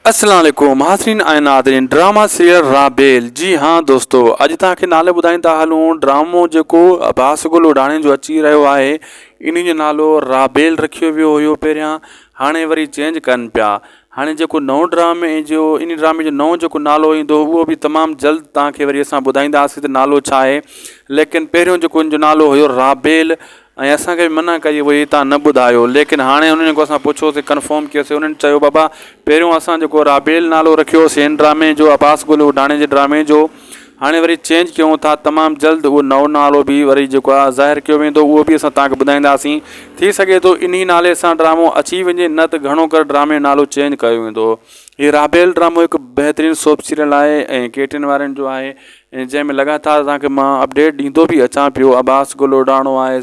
السلام عليڪم حاضرين ۽ ناظرين ڊراما سيريل رابيل جي ها دوستو اڄ توهان کي نالي ٻڌائين ٿا هلون ڊرامو جيڪو عباس گل اوڍاڻي جو اچي رهيو آهي انهي جو نالو رابيل رکيو ويو هيو پهريان هاڻي وري چينج ڪن پيا هاڻي جيڪو نئون ڊرامي جو انهي ڊرامي جو نئون جيڪو نالو ايندو اهو به تمام جلد توهان کي وري اسان ٻڌائينداسين ته نالو ڇا آهي ليڪن پهريون جيڪو ان جو نالو هيو رابيل ۽ اسان کي به منع ڪئي هئي تان نه ٻڌايو ليڪن هاڻي انهن جيڪو اسان پڇيوسي ڪنفرم ڪيوسي انهن چيو بابا پهريون اسان جيڪو رابيل نالو رکيو هوسي هن ڊرامي جو عباس گل اوڍاڻي جي ڊرامي جو هاڻي وري چينج ڪيون ٿا تمام جلد اهو نئون نالو به وري جيڪو آهي ظاهر ڪيو ويندو اهو به اسان توهان کي ٻڌائينداسين ٿي سگهي ٿو انهي نالي سان ڊرامو اچي وڃي نه ته گهڻو ڪري ڊرامي جو نالو چينج ڪيو ويندو هي رابيل ڊرامو هڪ بهترين سوپ سيريل آهي ۽ ڪيٽرين وارن جو آهي ۽ جنهن ۾ لڳاتار توهان کي مان اپڊيٽ ڏيندو به اچان پيو عباس گل اڏاڻو آهي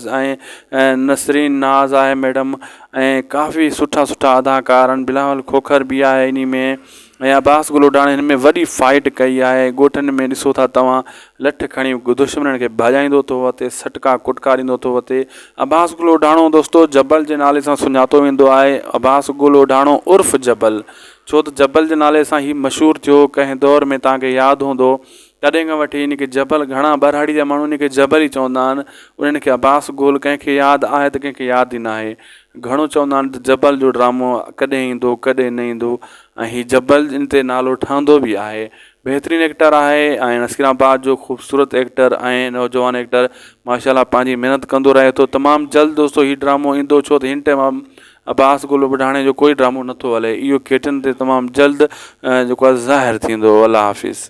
۽ نسرين ناز آهي ميڊم ۽ ڪافي سٺا سٺا اداڪار آهن بلاول کوکر به آهي انهي ۾ ۽ عباس گل اڏاڻي هن ۾ وڏي فائيٽ ڪئي آهي ڳوٺن ۾ ڏسو ٿا توهان لٺ کڻي دشمنن کي ڀڄائيندو ٿو وتي سٽڪا ڪٽڪا ڏيندو ٿو وتي عباس گل اڏاڻو دوستو جبل جي نالي سان سڃاتو ويندو آهي عباس گل اڏاڻو عرف جبل ڇو ته جبل جي نالي سان هي مشهور ٿيو، ڪنهن دور ۾ توهان کي ياد هوندو تڏهن کان وٺي هن کي جبل گهڻا ٻهراڙي جا ماڻهو هن کي جبل ئي چوندا آهن، انهن کي عباس گول ڪنهن کي ياد آهي ته ڪنهن کي ياد ئي ناهي، گهڻو چوندا آهن ته جبل جو ڊرامو ڪڏهن ايندو ڪڏهن نه ايندو ۽ هي جبل ان تي نالو ٺهندو به آهي، بهترين ايڪٽر آهي ۽ اسڪرين آباد جو خوبصورت ايڪٽر ۽ نوجوان ايڪٽر ماشاء الله پنهنجي محنت ڪندو رهي ٿو، تمام جلد دوستو هي ڊرامو ايندو ڇو ته هن ٽيم عباس گل ٻڍاڻي جو ڪوئي ڊرامو نٿو هلي اهو ڪيٽن تي تمام جلد جيڪو آهي ظاهر ٿيندو الله حافظ.